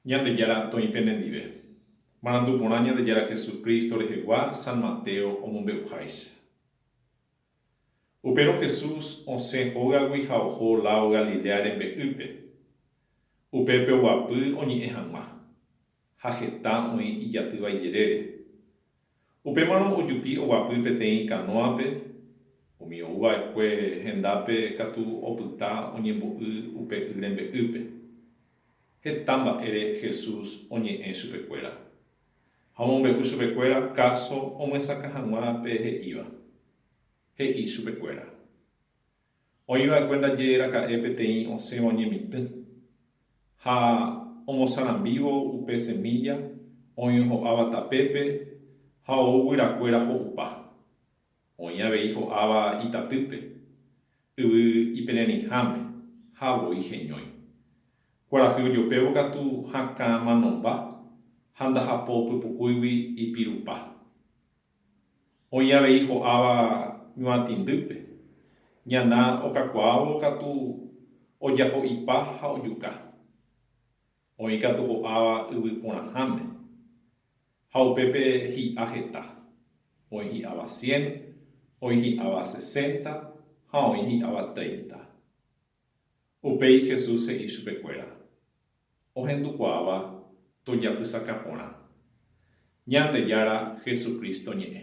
Ñandejára toĩ pene ndive. Marandu porã Ñandejára Jesucristo rehegua San Mateo omombe'uháicha. Upérõ Jesús osẽ hógagui ha oho láo Galilea rembe'ýpe. Upépe oguapy oñe'ẽ hag̃ua. ha heta oĩ ijatýva ijerére. Upémarõ ojupi oguapy peteĩ kanóape, umi ouva'ekue hendápe katu opyta oñembo'y upe y rembe'ýpe. Heta mba'ére Jesús oñe'ẽ chupekuéra, ha omombe'u chupekuéra káso omyesakã hag̃ua pe he'íva. He'i chupekuéra, Oĩva'ekue ndaje raka'e peteĩ osẽva oñemitỹ, ha omosarambívo upe semílla oĩ ho'áva tapépe ha ou guyrakuéra ho'upa. Oĩ avei ho'áva itatýpe, yvy ipererĩháme ha voi heñói. Kuarahy ojopévo katu hakã manomba ha ndahapo pypukúigui ipirupa. Oĩ avei ho'áva ñuatĩndýpe, ñana okakuaávo katu ojaho'ipa ha ojuka. Oĩ katu ho'áva yvy porãháme, ha upépe hi'a heta, oĩ hi'áva cien, oĩ hi'áva sesenta ha oĩ hi'áva treinta. Upéi Jesús he'i chupekuéra, Ohendukuaáva tojapysaka porã, Ñandejára Jesucristo ñe'ẽ.